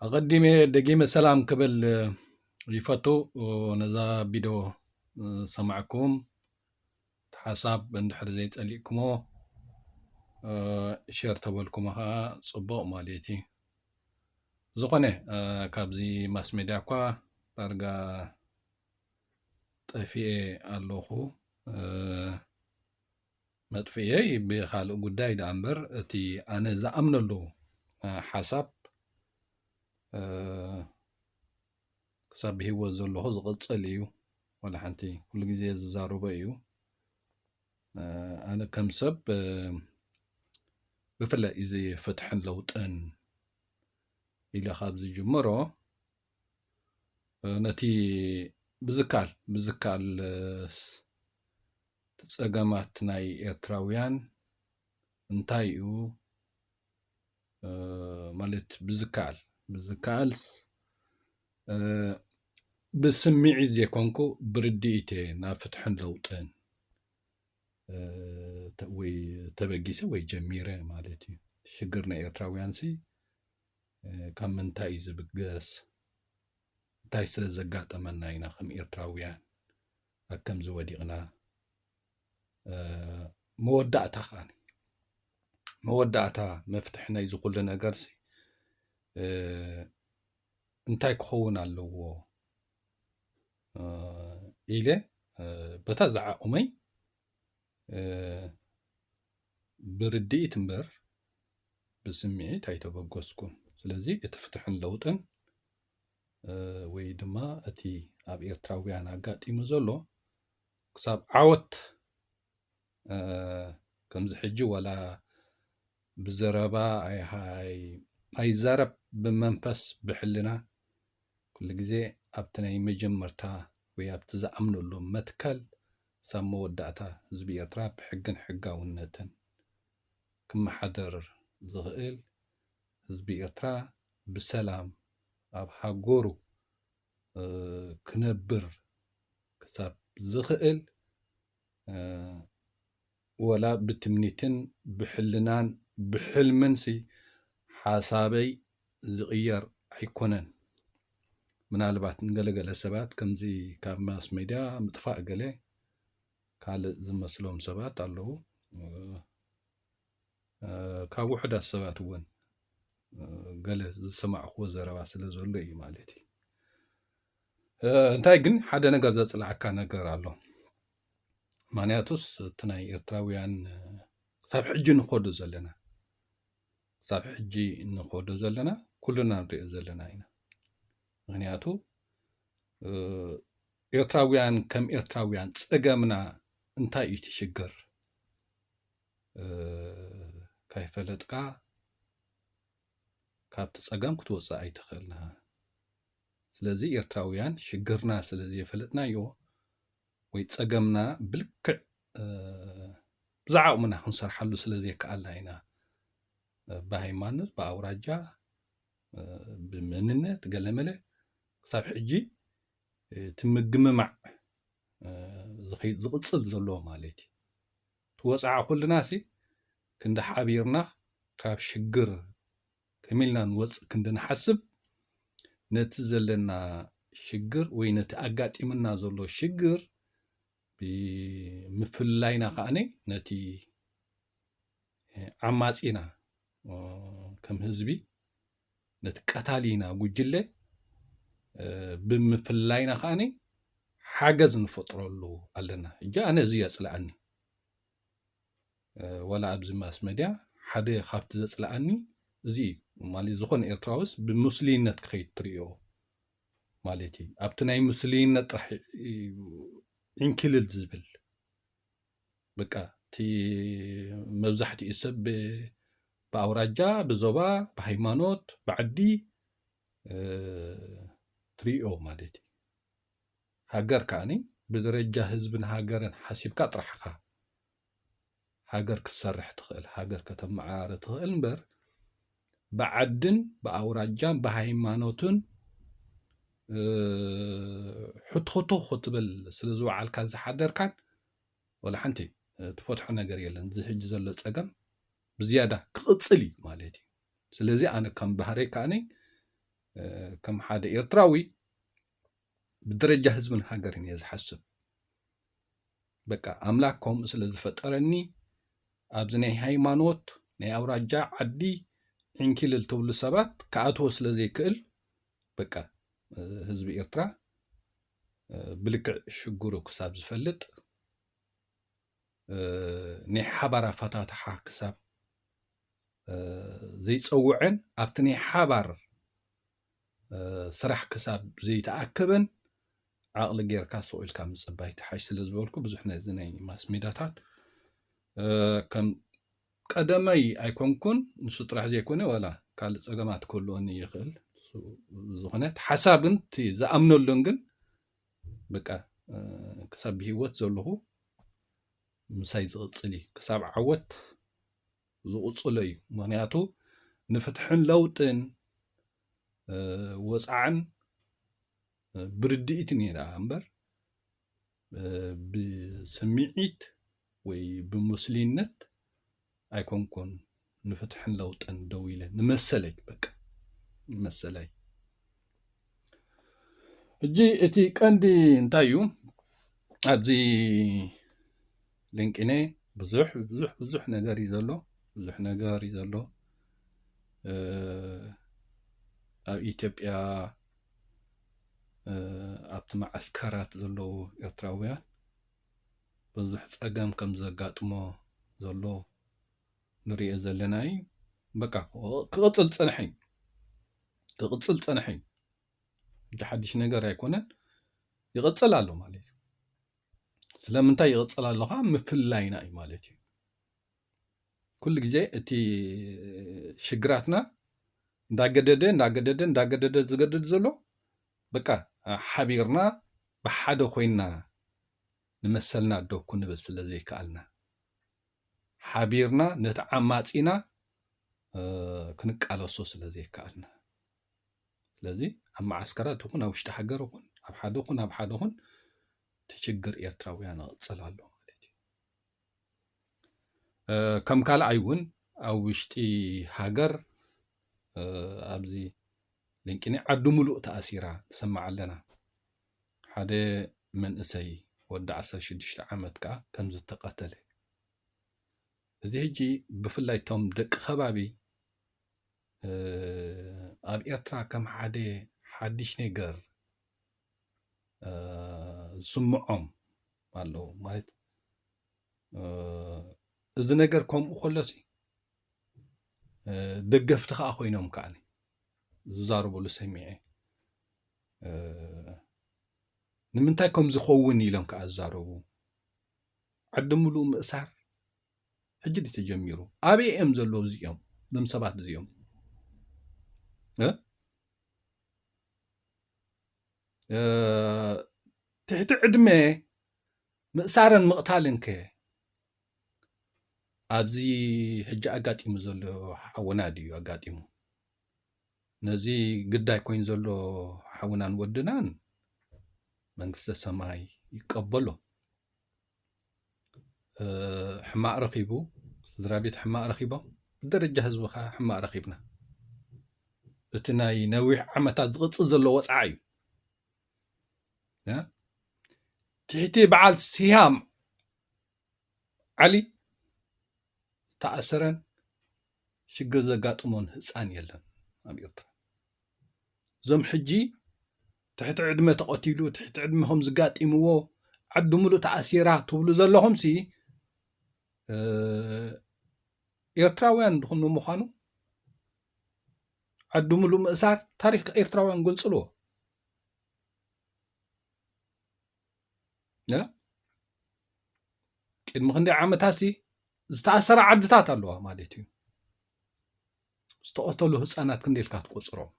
ኣቐዲመ ደጊመ ሰላም ክብል ይፈቱ ነዛ ቢዶ ሰማዕኩም ሓሳብ እንድሕር ዘይጸሊእኩሞ ሸር ተበልኩሞ ከዓ ጽቡቕ ማለት እዩ ዝኾነ ካብዚ ማስ ሜድያ እኳ ዳርጋ ጠፊኤ ኣለኹ መጥፍኢየይ ብኻልእ ጉዳይ ደኣ እምበር እቲ ኣነ ዝኣምነሉ ሓሳብ ክሳብ ብሂወት ዘለኹ ዝቕጽል እዩ ወላ ሓንቲ ኩሉ ግዜ ዝዛረቦ እዩ ኣነ ከም ሰብ ብፍላይ እዚ ፍትሕን ለውጥን ኢለ ካብ ዝጅምሮ ነቲ ብዝካል ብዝካል ፀገማት ናይ ኤርትራውያን እንታይ እዩ ማለት ብዝከኣል ብዝከኣልስ ብስምዒት ዘይኮንኩ ብርድኢት እየ ናብ ፍትሕን ለውጥን ወይ ተበጊሰ ወይ ጀሚረ ማለት እዩ ሽግር ናይ ኤርትራውያን ሲ ካብ ምንታይ እዩ ዝብገስ? እንታይ ስለ ዘጋጠመና ኢና ከም ኤርትራውያን ኣብ ከምዚ ወዲቕና? መወዳእታ ከኣ መወዳእታ መፍትሒ ናይዚ ኩሉ ነገርሲ እንታይ ክኸውን ኣለዎ ኢለ በታ ዝዓቑመይ ብርድኢት እምበር ብስምዒት ኣይተበገስኩን። ስለዚ እቲ ፍትሕን ለውጥን ወይ ድማ እቲ ኣብ ኤርትራውያን ኣጋጢሙ ዘሎ ክሳብ ዓወት ከምዚ ሕጂ ዋላ ብዘረባ ኣይዛረብ ብመንፈስ ብሕልና ኩሉ ግዜ ኣብቲ ናይ መጀመርታ ወይ ኣብቲ ዝኣምነሉ መትከል ክሳብ መወዳእታ ህዝቢ ኤርትራ ብሕግን ሕጋውነትን ክመሓደር ዝኽእል፣ ህዝቢ ኤርትራ ብሰላም ኣብ ሃገሩ ክነብር ክሳብ ዝኽእል፣ ወላ ብትምኒትን ብሕልናን ብሕልምንሲ ሓሳበይ ዝቕየር ኣይኮነን። ምናልባት ንገለ ገለ ሰባት ከምዚ ካብ ማስ ሜድያ ምጥፋእ ገለ ካልእ ዝመስሎም ሰባት ኣለዉ። ካብ ውሑዳት ሰባት እውን ገለ ዝሰማዕክዎ ዘረባ ስለ ዘሎ እዩ ማለት እዩ። እንታይ ግን ሓደ ነገር ዘፅላኣካ ነገር ኣሎ። ማንያቱስ እቲ ናይ ኤርትራውያን ክሳብ ሕጂ ንኸዶ ዘለና ክሳብ ሕጂ ንኸዶ ዘለና ኩሉና ንሪኦ ዘለና ኢና ምክንያቱ ኤርትራውያን ከም ኤርትራውያን ፀገምና እንታይ እዩ ትሽግር ካይፈለጥካ ካብቲ ፀገም ክትወፅእ ኣይትኽእልና ስለዚ ኤርትራውያን ሽግርና ስለዘይፈለጥናዮ ወይ ጸገምና ብልክዕ ብዝዓቕምና ክንሰርሓሉ ስለ ዘይከኣልና ኢና ብሃይማኖት ብኣውራጃ ብመንነት ገለመለ ክሳብ ሕጂ እቲ ምግምማዕ ዝኸይድ ዝቕጽል ዘለዎ ማለት እዩ ትወፅዓ ኩልና ሲ ክንዲ ሓቢርና ካብ ሽግር ከመይ ኢልና ንወፅእ ክንዲ ንሓስብ ነቲ ዘለና ሽግር ወይ ነቲ ኣጋጢምና ዘሎ ሽግር ብምፍላይና ከዓ ነቲ ዓማፂና ከም ህዝቢ ነቲ ቀታሊና ጉጅለ ብምፍላይና ከዓ ሓገዝ ንፈጥረሉ ኣለና እጂ ኣነ እዚ የፅልኣኒ ዋላ ኣብዚ ማስ መድያ ሓደ ካብቲ ዘጽልኣኒ እዚ እዩ ማለት ዝኾነ ኤርትራውስ ብምስልይነት ክኸይድ ትርእዮ ማለት እዩ ኣብቲ ናይ ምስልይነት ጥራሕ ዕንኪልል ዝብል በቃ እቲ መብዛሕትኡ ሰብ ብኣውራጃ ብዞባ ብሃይማኖት ብዓዲ ትርእዮ ማለት እዩ ሃገር ከኣ ብደረጃ ህዝብን ሃገርን ሓሲብካ ጥራሕ እኻ ሃገር ክትሰርሕ ትኽእል ሃገር ከተመዓራሪ ትኽእል እምበር ብዓድን ብኣውራጃን ብሃይማኖትን ሕትኹቱኽ ክትብል ስለ ዝወዓልካን ዝሓደርካን ወላ ሓንቲ ትፈትሖ ነገር የለን እዚ ሕጂ ዘሎ ጸገም ብዝያዳ ክቕጽል እዩ ማለት እዩ ስለዚ ኣነ ከም ባህረይ ከዓነይ ከም ሓደ ኤርትራዊ ብደረጃ ህዝብን ሃገርን እየ ዝሓስብ በቃ ኣምላክ ከምኡ ስለ ዝፈጠረኒ ኣብዚ ናይ ሃይማኖት ናይ ኣውራጃ ዓዲ ዕንኪልል ትብሉ ሰባት ክኣትዎ ስለ ዘይክእል በቃ ህዝቢ ኤርትራ ብልክዕ ሽግሩ ክሳብ ዝፈልጥ ናይ ሓባር ኣፈታትሓ ክሳብ ዘይፀውዐን ኣብቲ ናይ ሓባር ስራሕ ክሳብ ዘይተኣከበን ዓቕሊ ጌርካ ስቕ ኢልካ ምፅባይ ትሓሽ ስለ ዝበልኩ ብዙሕ ነዚ ናይ ማስ ሜዳታት ከም ቀደመይ ኣይኮንኩን ንሱ ጥራሕ ዘይኮነ ዋላ ካልእ ፀገማት ክህልወኒ ይኽእል ዝኾነት ሓሳብ ግን እቲ ዝኣምነሉን ግን በቃ ክሳብ ብሂወት ዘለኹ ምሳይ ዝቕፅል እዩ ክሳብ ዓወት ዝቕፅሎ እዩ ምክንያቱ ንፍትሕን ለውጥን ወፃዕን ብርድኢት ነይራ እምበር ብስምዒት ወይ ብሙስሊነት ኣይኮንኩን ንፍትሕን ለውጥን ደው ኢለ ንመሰለይ በቃ ንመሰለይ ሕጂ እቲ ቀንዲ እንታይ እዩ ኣብዚ ልንቂነ ብዙሕ ብዙሕ ብዙሕ ነገር እዩ ዘሎ ብዙሕ ነገር እዩ ዘሎ ኣብ ኢትዮጵያ ኣብቲ መዓስከራት ዘለዉ ኤርትራውያን ብዙሕ ፀገም ከም ዘጋጥሞ ዘሎ ንሪኦ ዘለና እዩ በቃ ክቕፅል ዝፀንሐ እዩ ክቕፅል ፀንሐ እዩ እንጂ ሓድሽ ነገር ኣይኮነን ይቕፅል ኣሎ ማለት እዩ ስለምንታይ ይቕፅል ኣሎ ከዓ ምፍላይና እዩ ማለት እዩ ኩሉ ግዜ እቲ ሽግራትና እንዳገደደ እንዳገደደ እንዳገደደ ዝገድድ ዘሎ በቃ ሓቢርና ብሓደ ኮይና ንመሰልና ዶ ክንብል ስለ ዘይከኣልና ሓቢርና ነቲ ዓማጺና ክንቃለሶ ስለ ዘይከኣልና ስለዚ ኣብ መዓስከራት ይኹን ኣብ ውሽጢ ሃገር ይኹን ኣብ ሓደ ኹን ኣብ ሓደ ኹን እቲ ችግር ኤርትራውያን ይቕጽል ኣሎ ማለት እዩ ከም ካልኣይ እውን ኣብ ውሽጢ ሃገር ኣብዚ ልንቂኒ ዓዲ ሙሉእ ተኣሲራ ንሰማዕ ኣለና ሓደ መንእሰይ ወዲ ዓሰርተ ሽዱሽተ ዓመት ከኣ ከም ዝተቐተለ እዚ ሕጂ ብፍላይ እቶም ደቂ ከባቢ ኣብ ኤርትራ ከም ሓደ ሓድሽ ነገር ዝስምዖም ኣለዉ ማለት እዚ ነገር ከምኡ ከሎሲ ደገፍቲ ከዓ ኮይኖም ከዓ ዝዛረብሉ ሰሚዐ ንምንታይ ከም ዝኸውን ኢሎም ከዓ ዝዛረቡ ዓዲ ምሉእ ምእሳር ሕጂ ድዩ ተጀሚሩ ኣበይ እዮም ዘለዉ እዚኦም ዞም ሰባት እዚኦም ትሕቲ ዕድመ ምእሳርን ምቕታልን ከ ኣብዚ ሕጂ ኣጋጢሙ ዘሎ ሓውና ድዩ ኣጋጢሙ ነዚ ግዳይ ኮይኑ ዘሎ ሓውናን ወድናን መንግስተ ሰማይ ይቀበሎ። ሕማቅ ረኺቡ ስድራ ቤት ሕማቅ ረኺቦም ብደረጃ ህዝቢ ከዓ ሕማቅ ረኺብና እቲ ናይ ነዊሕ ዓመታት ዝቕፅል ዘሎ ወፅዓ እዩ ትሕቲ በዓል ስያም ዓሊ ዝተኣሰረን ሽግር ዘጋጥሞን ህፃን የለን ኣብ ኤርትራ እዞም ሕጂ ትሕቲ ዕድመ ተቐቲሉ ትሕቲ ዕድመ ከም ዝጋጢምዎ ዓዲ ሙሉእ ተኣሲራ ትብሉ ዘለኹም ሲ ኤርትራውያን ድኹም ንምዃኑ ዓዲ ሙሉእ ምእሳር ታሪክ ኤርትራውያን ገንጽልዎ ቅድሚ ክንደይ ዓመታት ሲ ዝተኣሰራ ዓድታት ኣለዋ ማለት እዩ ዝተቐተሉ ህፃናት ክንደይ ኢልካ ትቆፅሮም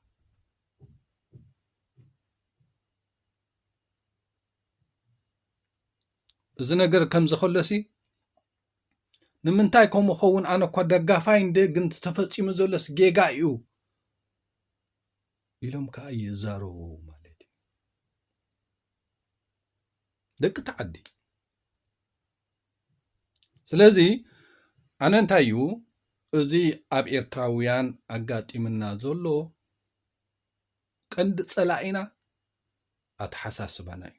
እዚ ነገር ከምዚ ከሎሲ ንምንታይ ከምኡ ኸውን ኣነ እኳ ደጋፋይ እንደ ግን ተፈፂሙ ዘሎስ ጌጋ እዩ ኢሎም ከዓ ይዛረቡ ደቂ እቲ ዓዲ ስለዚ ኣነ እንታይ እዩ እዚ ኣብ ኤርትራውያን ኣጋጢምና ዘሎ ቀንዲ ፀላኢና ኣተሓሳስባና እዩ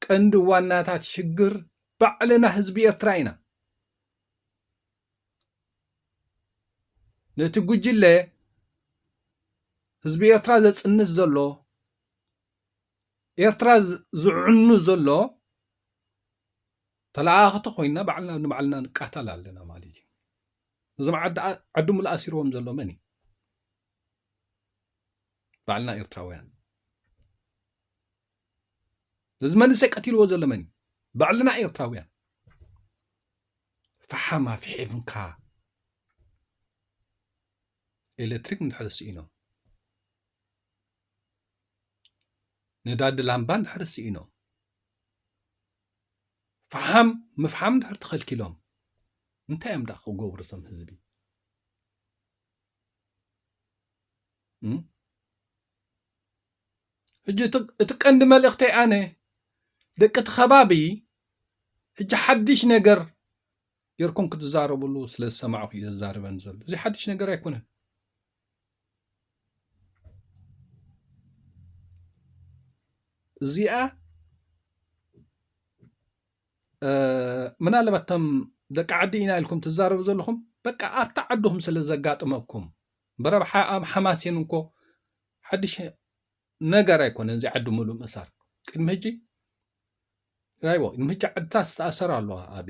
ቀንዲ ዋናታት ሽግር ባዕልና ህዝቢ ኤርትራ ኢና ነቲ ጉጅለ ህዝቢ ኤርትራ ዘጽንት ዘሎ ኤርትራ ዝዕኑ ዘሎ ተለኣኣኽቲ ኮይና ባዕልና ንባዕልና ንቃታል ኣለና ማለት እዩ እዞም ዓዲ ሙሉ ኣሲርዎም ዘሎ መን እዩ ባዕልና ኤርትራውያን እዚ መንእሰይ ቀትልዎ ዘሎ መን እዩ ባዕልና ኤርትራውያን ፈሓም ኣፍሒምካ ኤሌክትሪክ እንድሕር ስኢኖም ነዳዲ ላምባ እንድሕር ስኢኖም ፈሓም ምፍሓም እንድሕር ተኸልኪሎም እንታይ እዮም ደኣ ክገብሩ እቶም ህዝቢ ሕጂ እቲ ቀንዲ መልእኽተይ ኣነ ደቂ እቲ ከባቢ ሕጂ ሓድሽ ነገር ጌርኩም ክትዛረብሉ ስለ ዝሰማዕኹ እዩ ዘዛርበን ዘሎ እዚ ሓድሽ ነገር ኣይኮነን እዚኣ ምናልባት እቶም ደቂ ዓዲ ኢና ኢልኩም ትዛረቡ ዘለኹም በቃ ኣብቲ ዓድኹም ስለ ዘጋጥመኩም ብረብሓ ኣብ ሓማሴን እኮ ሓድሽ ነገር ኣይኮነን እዚ ዓዲ ምሉእ ምእሳር ቅድሚ ሕጂ ራይቦ ቅድሚ ሕጂ ዓድታት ዝተኣሰራ ኣለዋ ኣብ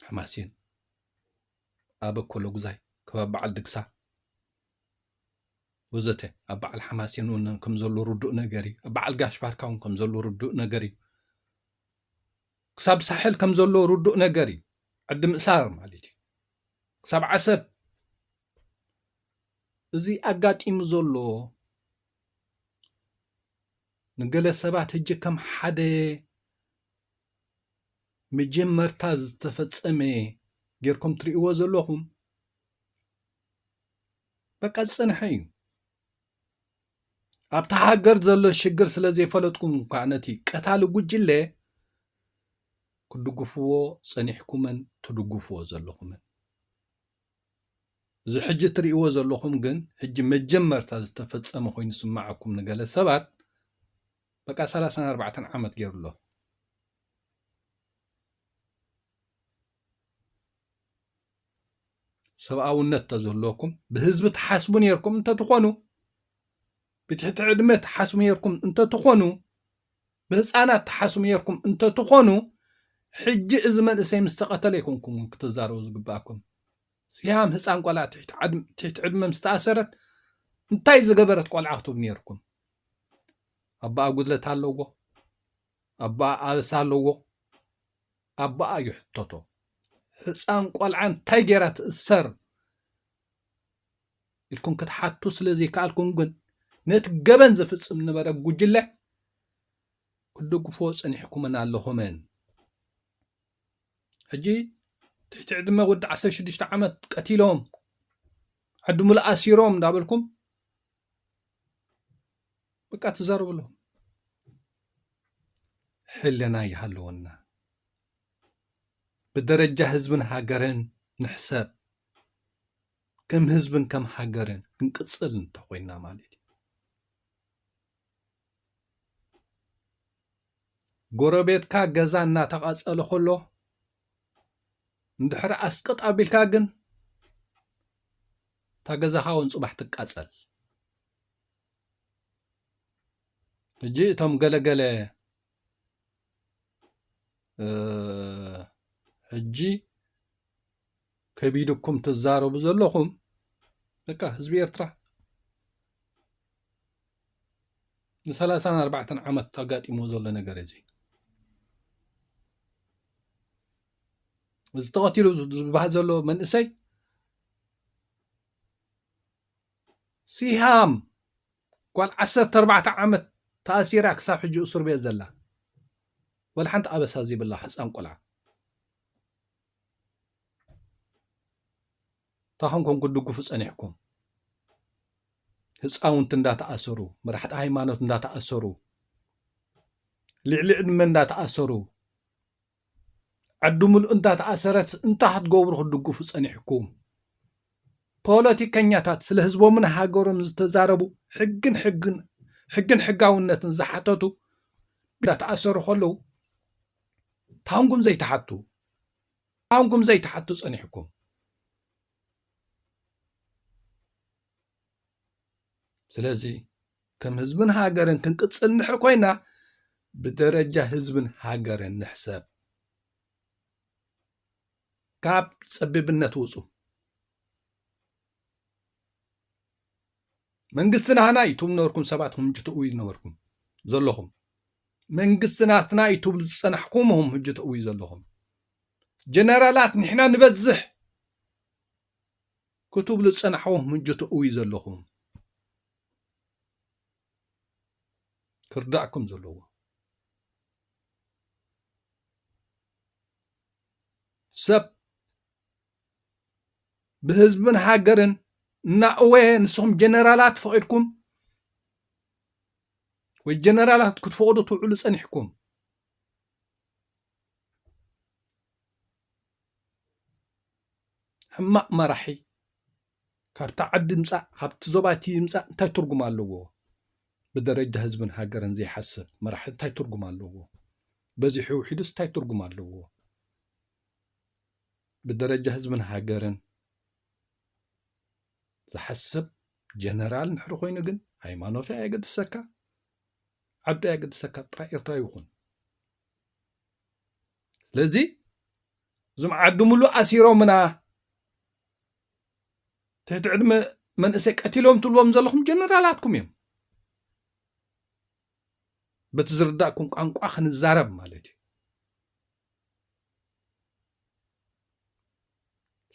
ሓማሴን ኣብ ኮሎጉዛይ ከባቢ በዓል ድግሳ ወዘተ ኣብ በዓል ሓማሴን እውን ከም ዘሎ ርዱእ ነገር እዩ ኣብ በዓል ጋሽ ባርካ እውን ከም ዘሎ ርዱእ ነገር እዩ ክሳብ ሳሕል ከም ዘሎ ርዱእ ነገር እዩ ዓዲ ምእሳር ማለት እዩ ሰብዓ ሰብ እዚ ኣጋጢሙ ዘሎ ንገለ ሰባት ህጂ ከም ሓደ መጀመርታ ዝተፈጸመ ጌርኩም ትርእይዎ ዘለኹም በቃ ዝጸንሐ እዩ። ኣብታ ሃገር ዘሎ ሽግር ስለ ዘይፈለጥኩም እኳ ነቲ ቀታሊ ጉጅለ ክድግፍዎ ጸኒሕኩምን ትድግፍዎ ዘለኹምን እዚ ሕጂ እትርእይዎ ዘለኹም ግን ሕጂ መጀመርታ ዝተፈጸመ ኮይኑ ስማዓኩም ንገለ ሰባት በቃ 34 ዓመት ገይሩ ኣሎ ሰብኣውነት እንተዝህልወኩም ብህዝቢ ትሓስቡ ነርኩም እንተትኾኑ ብትሕቲ ዕድመ ትሓስቡ ነርኩም እንተትኾኑ ብህፃናት ትሓስቡ ነርኩም እንተትኾኑ ሕጂ እዚ መንእሰይ ምስ ተቐተለ ይኮንኩም እውን ክትዛረቡ ዝግብኣኩም ሲያም ህፃን ቆልዓ ትሕቲ ዕድመ ምስ ተኣሰረት እንታይ ዝገበረት ቆልዓ ክትብ ነርኩም ኣባኣ ጉድለት ኣለዎ ኣባኣ ኣበሳ ኣለዎ ኣቦኣ ይሕተቶ ህጻን ቆልዓ እንታይ ጌራ ትእሰር ኢልኩም ክትሓቱ ስለ ዘይከኣልኩም ግን ነቲ ገበን ዝፍጽም ነበረ ጉጅለ ክትድግፍዎ ጸኒሕኩምን ኣለኹምን ሕጂ ትሕቲ ዕድመ ወዲ 16 ዓመት ቀቲሎም ዓዲ ሙሉእ ኣሲሮም እንዳበልኩም በቃ ትዛረብሎም ሕልና ይሃለወና ብደረጃ ህዝብን ሃገርን ንሕሰብ ከም ህዝብን ከም ሃገርን ክንቅፅል እንተኮይና ማለት እዩ ጎረቤትካ ገዛ እናተቓፀለ ከሎ እንድሕር ኣስቅጥ ኣቢልካ ግን እታ ገዛኻ እውን ፅባሕ ትቃፀል ሕጂ እቶም ገለ ገለ ሕጂ ከቢድኩም ትዛረቡ ዘለኹም በቃ ህዝቢ ኤርትራ ንሰላሳን ኣርባዕተን ዓመት ኣጋጢሞ ዘሎ ነገር እዚ እዚ ተቐቲሉ ዝበሃል ዘሎ መንእሰይ ሲሃም ጓል ዓሰርተ ኣርባዕተ ዓመት ተኣሲራ ክሳብ ሕጂ እሱር ቤት ዘላ ወላ ሓንቲ ኣበሳ ዘይብላ ህፃን ቆልዓ እንታይ ኮንኩም ክትድግፉ ፀኒሕኩም ህፃውንቲ እንዳተኣሰሩ መራሕቲ ሃይማኖት እንዳተኣሰሩ ልዕሊ ዕድመ እንዳተኣሰሩ ዓዱ ምሉእ እንዳ ተኣሰረት እንታይ ክትገብሩ ክትድግፉ ጸኒሕኩም ፖለቲከኛታት ስለ ህዝቦምን ሃገሮም ዝተዛረቡ ሕግን ሕግን ሕግን ሕጋውነትን ዝሓተቱ እንዳተኣሰሩ ከለዉ ታንኩም ዘይትሓቱ ታንኩም ዘይትሓቱ ጸኒሕኩም ስለዚ ከም ህዝብን ሃገርን ክንቅጽል እንድሕር ኮይና ብደረጃ ህዝብን ሃገርን ንሕሰብ ካብ ጸቢብነት ውጹ መንግስቲ ናህና እዩ ትብሉ ነበርኩም ሰባት ኹም ትእው ነበርኩም ዘለኹም መንግስቲ ናትና እዩ ትብሉ ዝጸናሕኩም ኹም ህጂ ትእው ዘለኹም ጀነራላት ንሕና ንበዝሕ ክትብሉ ጽናሕዎ ምንጆ ተእውዩ ዘለኹም ክርዳእኩም ዘለዎ ሰብ ብህዝብን ሃገርን እናእወ ንስኹም ጀነራላት ፈቂድኩም ወይ ጀነራላት ክትፈቅዱ ትውዕሉ ጸኒሕኩም ሕማቅ መራሒ ካብታ ዓዲ ይምፃእ ካብቲ ዞባ እቲ ይምፃእ እንታይ ትርጉም ኣለዎ ብደረጃ ህዝብን ሃገርን ዘይሓስብ መራሒ እንታይ ትርጉም ኣለዎ በዚሑ ውሒዱስ እንታይ ትርጉም ኣለዎ ብደረጃ ህዝብን ሃገርን ዝሓስብ ጀነራል ንሕሪ ኮይኑ ግን ሃይማኖት ኣየገድሰካ ዓዱ ኣየገድሰካ ጥራይ ኤርትራዊ ይኹን ስለዚ እዞም ዓድምሉ ኣሲሮምና ትሕቲ ዕድመ መንእሰይ ቀቲሎም ትብልዎም ዘለኹም ጀነራላትኩም እዮም በቲ ዝርዳእኩም ቋንቋ ክንዛረብ ማለት እዩ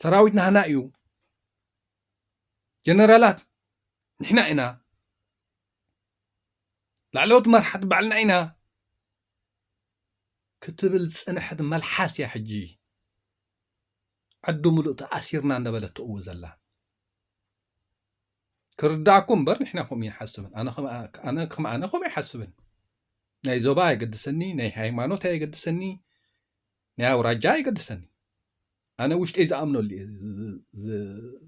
ሰራዊት ናህና እዩ ጀነራላት ንሕና ኢና ላዕለዎት መራሕቲ ባዕልና ኢና ክትብል ዝፀንሐት መልሓስ እያ ሕጂ ዓዱ ሙሉእ ተኣሲርና እንዳበለት ትእዊ ዘላ ክርዳእኩም እምበር ንሕና ከምኡ ይሓስብን ኣነ ከም ኣነ ከምኡ ይሓስብን ናይ ዞባ ኣይገድሰኒ ናይ ሃይማኖት ኣይገድሰኒ ናይ ኣውራጃ ኣይገድሰኒ ኣነ ውሽጠይ ዝኣምነሉ እየ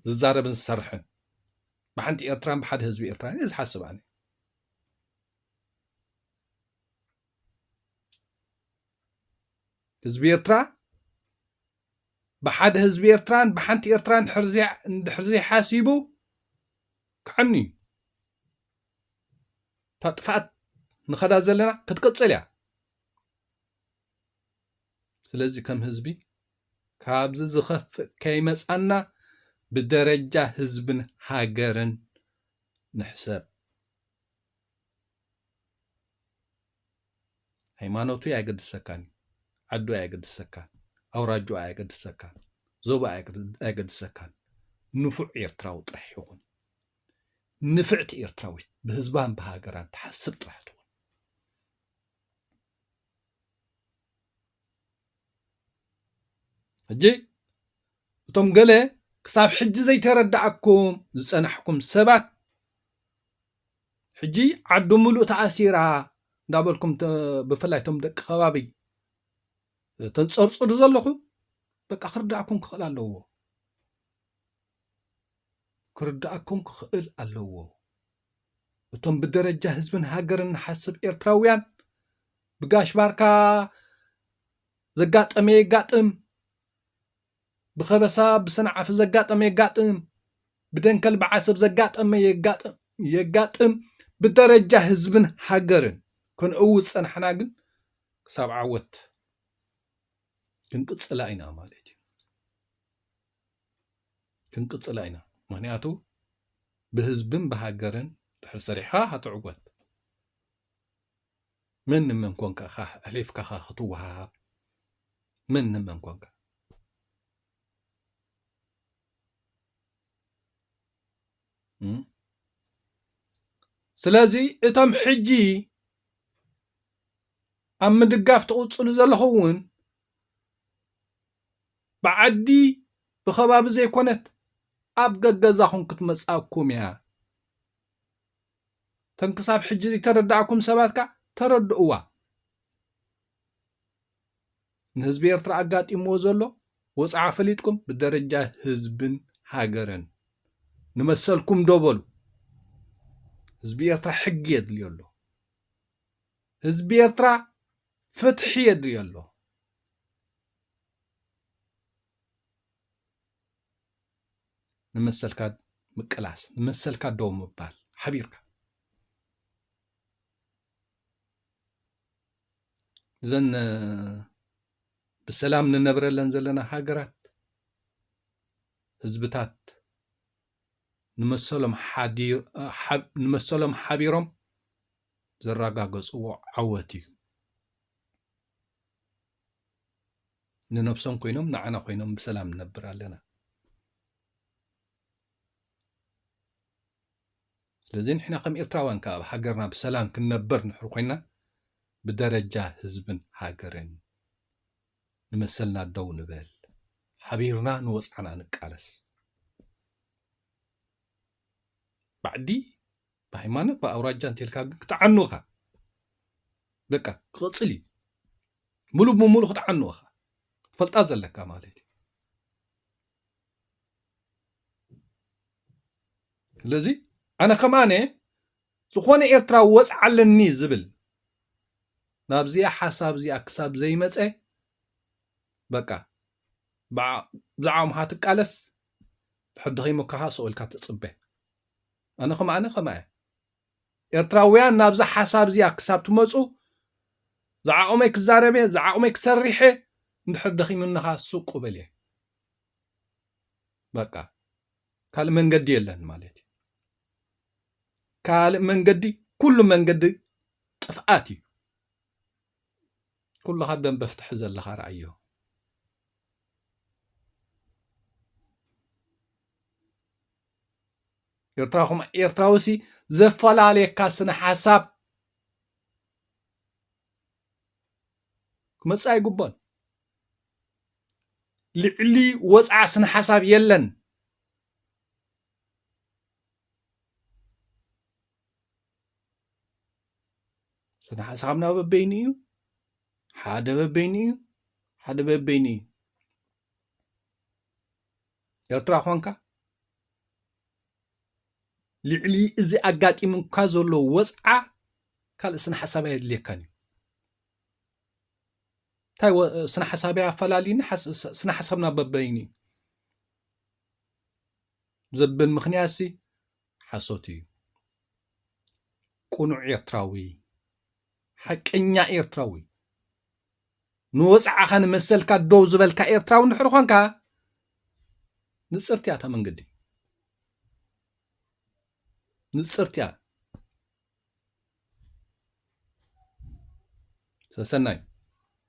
ዝዛረብን ዝሰርሕን ብሓንቲ ኤርትራን ብሓደ ህዝቢ ኤርትራን እየ ዝሓስብ ኣነ ህዝቢ ኤርትራ ብሓደ ህዝቢ ኤርትራን ብሓንቲ ኤርትራን ድሕር ዘይሓሲቡ ክዓኑ እዩ እታ ጥፍኣት ንኸዳ ዘለና ክትቅፅል እያ ስለዚ ከም ህዝቢ ካብዚ ዝኸፍእ ከይመጻና ብደረጃ ህዝብን ሃገርን ንሕሰብ። ሃይማኖቱ ኣየገድሰካን እዩ። ዓዱ ኣየገድሰካን፣ ኣውራጅኡ ኣየገድሰካን፣ ዞባ ኣየገድሰካን። ንፉዕ ኤርትራዊ ጥራሕ ይኹን። ንፍዕቲ ኤርትራዊት ብህዝባን ብሃገራን ትሓስብ ጥራሕ ትኹን። ሕጂ እቶም ገለ ክሳብ ሕጂ ዘይተረድኣኩም ዝጸናሕኩም ሰባት ሕጂ ዓዲ ምሉእ ተኣሲራ እንዳበልኩም ብፍላይ እቶም ደቂ ከባቢ ተንጸርጽሩ ዘለኹም በቃ ክርድኣኩም ክኽእል ኣለዎ ክርድኣኩም ክኽእል ኣለዎ። እቶም ብደረጃ ህዝብን ሃገርን ንሓስብ ኤርትራውያን ብጋሽ ባርካ ዘጋጠመ የጋጥም፣ ብኸበሳ ብሰንዓፈ ዘጋጠመ የጋጥም፣ ብደንከል ብዓሰብ ዘጋጠመ የጋጥም፣ ብደረጃ ህዝብን ሃገርን ክንእውት ጸናሕና ግን ክሳብ ዓወት ክንቅጽላ ኢና ማለት እዩ። ክንቅፅላ ኢና ምክንያቱ ብህዝብን ብሃገርን ድሕር ሰሪሕካ ክትዕወት መን ንመን ኮንካ ኣሕሊፍካ ክትወሃሃብ መን ንመን ኮንካ ስለዚ እቶም ሕጂ ኣብ ምድጋፍ ትቕፅሉ ዘለኹም እውን ብዓዲ ብከባቢ ዘይኮነት ኣብ ገገዛኹም ክትመጽኣኩም ኢያ። ተን ክሳብ ሕጂ ዘይተረድኣኩም ሰባት ከኣ ተረድእዋ። ንህዝቢ ኤርትራ ኣጋጢምዎ ዘሎ ወጽዓ ፈሊጥኩም ብደረጃ ህዝብን ሃገርን ንመሰልኩም ደው በሉ። ህዝቢ ኤርትራ ሕጊ የድልዮ ኣሎ። ህዝቢ ኤርትራ ፍትሒ የድልዮ ኣሎ። ንመሰልካ ምቅላስ፣ ንመሰልካ ደው ምባል ሓቢርካ እዘን ብሰላም ንነብረለን ዘለና ሃገራት ህዝብታት ንመሰሎም ሓቢሮም ዘረጋገፅዎ ዓወት እዩ። ንነብሶም ኮይኖም ንዓና ኮይኖም ብሰላም ንነብር ኣለና። ስለዚ ንሕና ከም ኤርትራውያን ከኣ ኣብ ሃገርና ብሰላም ክንነብር ንድሕር ኮይና ብደረጃ ህዝብን ሃገርን ንመሰልና ደው ንበል፣ ሓቢርና ንወጽዓና ንቃለስ። ባዕዲ ብሃይማኖት ብኣውራጃ እንተልካ ግን ክትዓኑ እኻ በቃ ክቕፅል እዩ ሙሉእ ብሙሉእ ክትዓኑ እኻ ፈልጣ ዘለካ ማለት እዩ ስለዚ ኣነ ከማነ ዝኾነ ኤርትራ ወፅዓ ኣለኒ ዝብል ናብዚኣ ሓሳብ እዚኣ ክሳብ ዘይመፀ በቃ ብዛዕባ ምሃ ትቃለስ ሕድኸይ ሞካኻ ሰኦልካ ትፅበ ኣነ ከም ኣነ ከምኣ እያ ኤርትራውያን ናብዛ ሓሳብ እዚኣ ክሳብ ትመጹ ዝዓቕመይ ክዛረብ እየ ዝዓቕመይ ክሰርሕ እየ እንድሕር ደኺሙኒ ኸኣ ሱቅ ብል እየ በቃ ካልእ መንገዲ የለን ማለት እዩ ካልእ መንገዲ ኩሉ መንገዲ ጥፍኣት እዩ ኩልኻ ደንበ ፍትሒ ዘለኻ ረኣዮ ኤርትራ ኮም ኤርትራዊሲ ዘፈላለየካ ስነ ሓሳብ ክመፅእ ኣይግቦን ልዕሊ ወፅዓ ስነ ሓሳብ የለን ስነ ሓሳብና በበይኑ እዩ ሓደ በበይኑ እዩ ሓደ በበይኑ እዩ ኤርትራ ኳንካ ልዕሊ እዚ ኣጋጢሙካ ዘሎ ወፅዓ ካልእ ስነ ሓሳብ ኣየድልየካን እዩ እንታይ ስነ ሓሳብ ኣፈላልዩኒ ስነ ሓሳብና በበይኑ እዩ ዘብል ምክንያት ሲ ሓሶት እዩ ቅኑዕ ኤርትራዊ ሓቀኛ ኤርትራዊ ንወጽዓኻ ንመሰልካ ደው ዝበልካ ኤርትራዊ እንድሕር ኾንካ ንጽርቲ እያ እታ መንገዲ ንጽርቲ እያ ሰሰናዩ